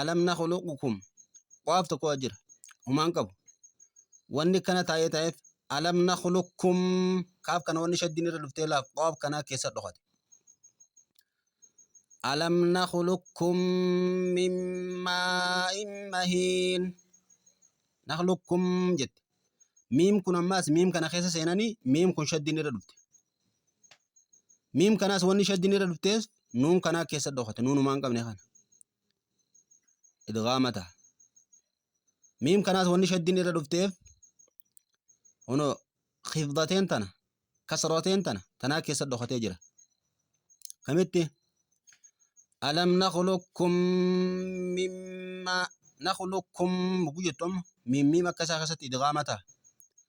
alam nakhluqukum qofaaf tokko as jira humaan qabu wanni kana taa'ee taa'eef alam nakhluqukum kaaf kana wanni shaddiin irra dhuftee laaf qofaaf kanaa keessa dhokate alam nakhluqukum min maa'in mahiin nakhluqukum jette miim kun ammaas miim kana keessa seenanii miim kun shaddiin irra dhufte miim kanaas wanni shaddiin irra dhuftees nuun kanaa keessa dhokate nuunumaan qabne kana idgaama taha miim kanaas wanni shaddiin irra dhufteef hono kifdateen tana kasroteen tana tanaa keessa dhokatee jira kamitti alam nakhluqkum mimma nakhluqkum buguu jettu amma miim miim akka isaa keessatti idgaama taha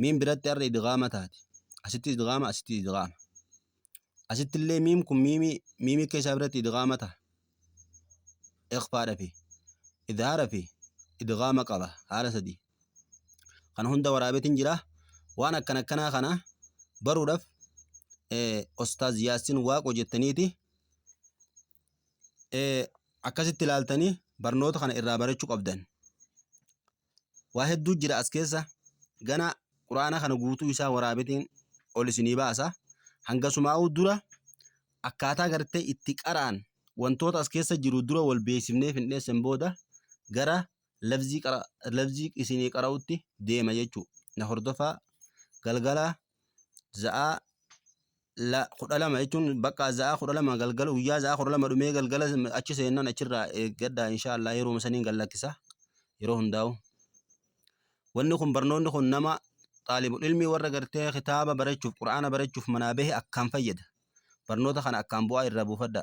miim biratti arra idgaama taati asitti idgaama asitti idgaama asitti illee miim kun miimi miimi keessaa biratti idgaama taha iqfaadha fi idhaara fi idgaama qaba haala sadii kan hunda waraabetin jira waan akkan akkanaa kana baruudhaaf ostaaz yaasin waaqo jettaniiti akkasitti ilaaltanii barnoota kana irraa barachuu qabdan Waa hedduu jira as keessa. Gana Qur'aana kana guutuu isaa waraabetiin ol isinii baasa. Hangasumaa'uu dura akkaataa gartee itti qara'an wantoota as keessa jiru dura wal beeksifnee findheessen booda gara labzii, qara, labzii isinii qara'utti deema jechuu. Na hordofaa galgala za'aa la kudha lama jechuun bakka za'aa kudha lama galgala guyyaa za'aa kudha lama dhumee galgala achi seennan achirraa eeggadha inshaallah yeroo saniin gallakkisa yeroo hundaa'u. Wanni kun barnoonni kun nama xaalibul ilmii warra gartee kitaaba barachuuf qura'aana barachuuf manaa bahe akkaan fayyada. Barnoota kana akkaan bu'aa irraa buufadha.